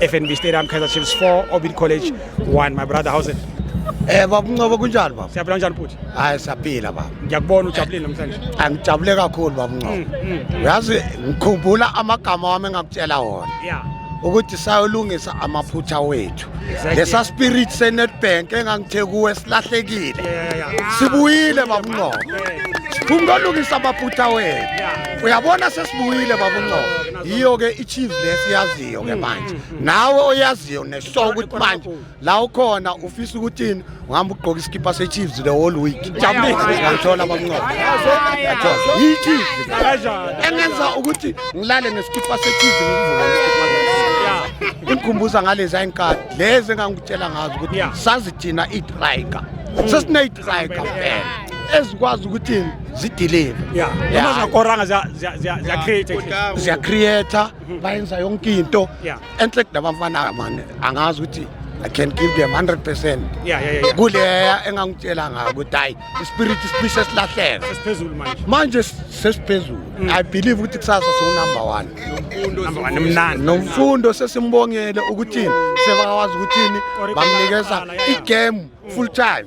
FNB Stadium Kaizer Chiefs 4 Orbit College 1 my brother how's it Eh baba Ncobo kunjani baba? Siyaphila kanjani futhi? Hayi siyaphila baba. Ngiyakubona ujabulile namhlanje. Angijabule kakhulu baba Ncobo. Mm, mm, mm. Uyazi ngikhumbula amagama wami engakutshela wona. Yeah. ukuthi sayolungisa amaphutha wethu exactly. lesa spirit senetbank engangithe kuwe silahlekile yeah, yeah, yeah. sibuyile babungqobo siphumkolungisa amaphutha wethu uyabona sesibuyile babungqobo yiyo-ke i-chiefs lesiyazi owaziyo ke manje nawe oyaziyo neshow ukuthi manje la ukhona ufisa ukuthini uhamba ugqoka isikipha sechiefs the whole week ngithola bamnqoba yichiefs engenza ukuthi ngilale nesikipha sechiefs ngikuvuka nesikipha ingikhumbuza ngalezi ayinkathi lezi engangikutshela ngazo ukuthi sazi thina idrayiga sesinayidrayiga phela ezikwazi ukuthi zideliver yeah noma zakoranga ziya create ziya create bayenza yonke into Yeah. enhle kudabafana mani angazi ukuthi i can give them 100 percent Yeah, yeah, yeah, yeah. kuleya engangitshela ngayo ukuthi hayi ispirit sibise silahleka Sesiphezulu manje. manje sesiphezulu i believe ukuthi kusasa siwunumber one Number one, mnandi. nomfundo sesimbongele ukuthini sebakwazi ukuthini Correct. bamnikeza Baqala, yeah, yeah. igame full time